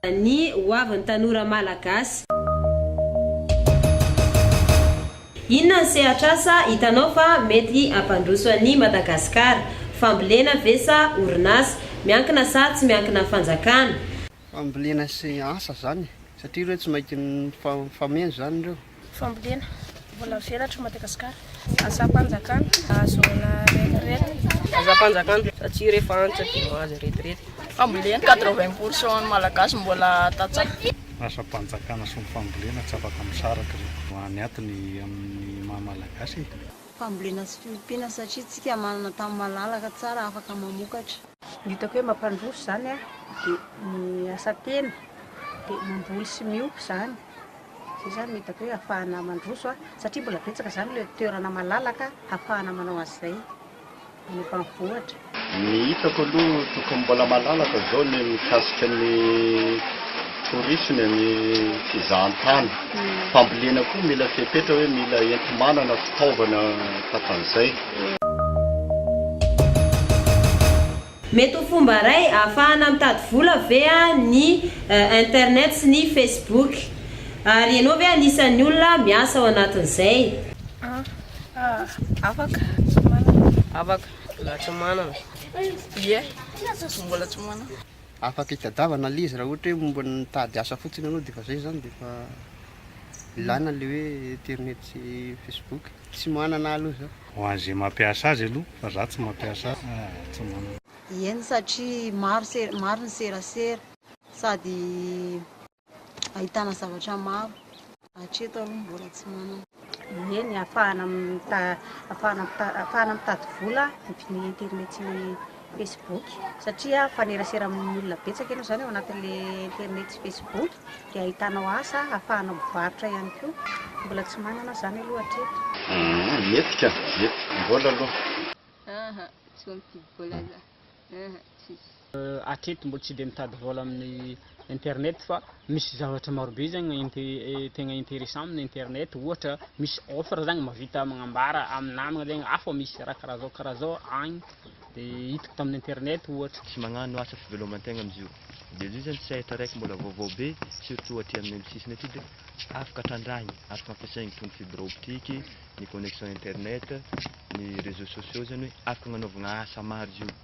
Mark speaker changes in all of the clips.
Speaker 1: Ny hoavin'ny tanora malagasy. Inona ny sehatr'asa hitanao fa mety hampandroso an'i Madagasikara? Fambolena ve sa orinasa? Miankina sa tsy miankina fanjakana? Fambolena
Speaker 2: sy asa izany satria ireo tsy maintsy mifameno izany ireo. Fambolena,
Speaker 3: mbola velatra i Madagasikara. Asam-panjakana, ahazoana retirety. Asam-panjakana,
Speaker 4: satria rehefa antitra dia mahazo retirety. Fambolena, quatre
Speaker 3: vingt pour cent ny Malagasy mbola tantsaha. Asam-panjakana
Speaker 5: sy ny fambolena tsy afaka misaraka ireo. Any aty ny amin'ny maha Malagasy e. fambolena
Speaker 6: sy fiompiana satria tsika manana tany malalaka tsara afaka mamokatra. Ny hitako hoe
Speaker 3: mampandroso izany dia ny asa tena dia mamboly sy miompy izany izay izany no hitako hoe hahafahana mandroso satria mbola betsaka izany ilay toerana malalaka hahafahana manao an'izay. any ambanivohitra. Ny hitako
Speaker 7: aloha tokony mbola malalaka izao ny mikasika ny tourisme ny fizahantany. Fambolena koa mila fepetra hoe mila enti-manana, fitaovana takan'izay.
Speaker 1: Mety ho fomba iray ahafahana mitady vola ve ny internet sy ny facebook? Ary ianao ve anisan'ny olona miasa ao anatin'izay?
Speaker 3: Afaka. Afaka.
Speaker 4: Mbola tsy manana. Ie.
Speaker 3: Mbola tsy manana. Afaka itadiavana
Speaker 2: ilay izy raha ohatra hoe mba mitady asa fotsiny ianao dia efa izay izany dia efa ilaina ilay hoe internet sy facebook. Tsy manana aho aloha izao. Ho an'izay mampiasa
Speaker 5: azy aloha fa izaho tsy mampiasa aho tsy manana. Eny satria
Speaker 6: maro ny serasera sady. ahitana zavatra maro. Hatreto aloha mbola tsy manana. Eny, afahana
Speaker 3: afahana mitady vola amin'ny internet sy ny Facebook satria fanerasera amin'ny olona betsaka ianao izany ao anatin'le internet sy Facebook dia ahitanao asa afahanao mivarotra ihany koa. Mbola tsy manana aho izany aloha hatreto. Aa, mety ka,
Speaker 7: mety. Mbola aloha. Aa,
Speaker 8: tsy vao mifidy vola za. Aa, tsisy. Hatreto
Speaker 9: mbola tsy dia mitady vôla amin'ny internet fa misy zavatra marobe zany tegna intéressant amin'ny internet ohatra misy offre zany mahavita magnambara amin'ny namagna zany ah fa misy raha karaha zao karaha zao agny de hitako tamin'ny internet ohatra. Tsy magnano asa
Speaker 10: fiveloman-tegna amzio. De zio zany sehatra raiky mbola vaovao be surtout aty aminay am sisiny aty de afaka trandrahigny afaka ampiasaigny toy ny fibre optique, ny connexion internet, ny réseaux sociaux zany hoe afaka agnanaovagna asa maro zio.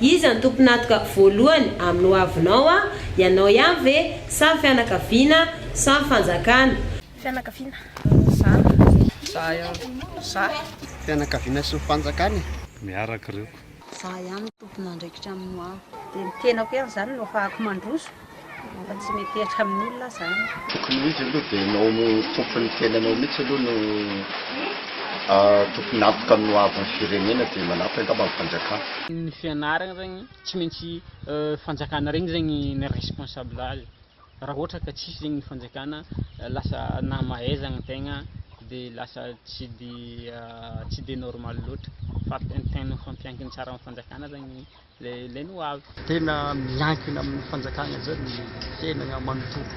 Speaker 1: Iza no tompon'atoka voalohany amin'ny hoavinao a? Ianao ihany ve sa fianakaviana sa ny fanjakana? Fianakaviana,
Speaker 3: za. Za
Speaker 4: ihany, za.
Speaker 3: Fianakaviana
Speaker 2: sy ny fanjakana e! Miaraka ireo.
Speaker 5: Za ihany no
Speaker 6: tompon'andraikitra amin'ny hoaviko. Dia ny tenako ihany
Speaker 3: izany no ahafahako mandroso. Fa tsy mety hihatra amin'olona zany. Tokony ho izy
Speaker 7: aloha dia ianao tompon'ny tenanao mihitsy aloha no tokony antoka amin'ny ho avin'ny firenena dia manampy angamba ny fanjakana. Ny fianarana
Speaker 9: regny tsy maintsy fanjakana regny zegny ny responsable azy raha ohatra ka tsisy zegny ny fanjakana lasa nahamahaizagna tegna de lasa tsy de tsy de normal loatra fa tegna mifampiankina tsara amin'ny fanjakana zany. Lehilahy no avy. Tena miankina
Speaker 11: amin'ny fanjakana zany ny fiainana manontolo.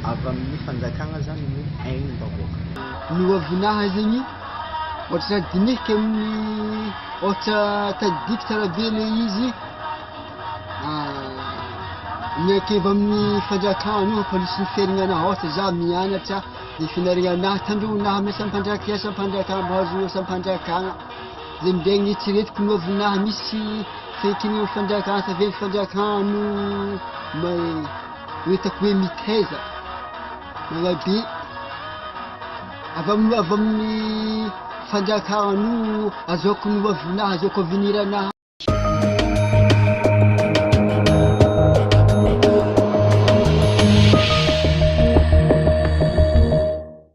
Speaker 11: Avy
Speaker 2: amin'ny fanjakana zany ny ain'ny vahoaka. Ny ho avinaha
Speaker 12: zegny ôhatra za dinihiko amin'ny ôhatra tadidiko tsara be le izy miankeva amin'ny fanjakana io pôlisy ny fiainana anah ôhatra za mianatra ny fianarana anah tandroy anah amin'ny asam-panjaka ny asam-panjakana mba ahazoana asam-panjakana Dia minday ny eritreretiko no avy naha misy fenitrenin'ny fanjakana tavela fanjakana no no hitako hoe mitaiza malabe avy amin'ny avy amin'ny fanjakana no azaoko no avy naha azaoko avenir naha